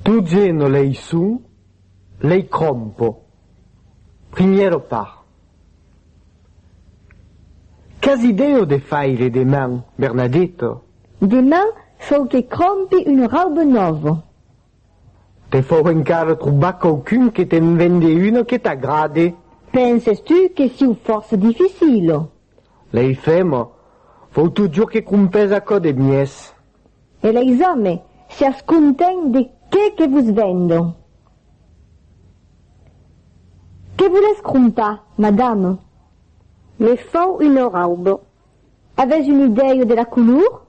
Tu geno lei son, lei crompo. Primièro par. Qu'as idèo de faire deman, Bernadetto? Deman fòu que crompi un raube nòvo. Te fòu encara trobar quauqu'un que te'n vende uno que t'agrade. Penses tu que siu fòrça dificilo? Lei femo, fòu totjorn que crompes aquò de mies. E leis òmes, siás content de qué que vos vendo. Qué volètz crompar, madame? Me fau una raubo. Avètz un idèio de la color?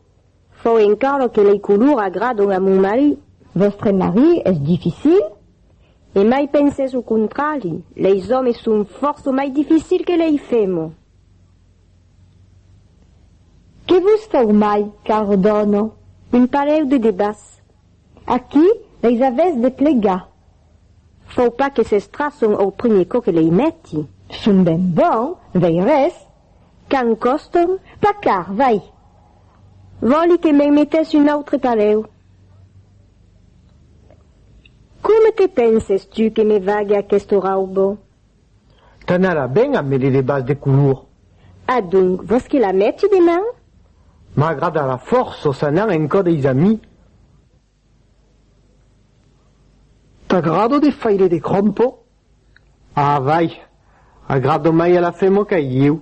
Fau encara que lei color agradon a mon marí. Vòstre marí es dificil? Emai pensètz o contrari, leis òmes son fòrça mai dificil que lei femo. Que vos cau mai qu'aur dòno un parèu de debas. Aquí leis avètz de plegar. Fau pas que s'estrasson au primier cò que lei mèti. Son ben bon, vei res, qu'an còston pas car, vai. Vòli que mei metèss un autre parèu. Coma te penses tu que me vague aqueste raubo? T'anarà ben a medir de bas de color. Adonc, vòs que la meti deman? M'agradarà fòrços anar en cò deis amis. T'agrado de faire de crompo? A vai, agradom-mai a la femoca e ieu,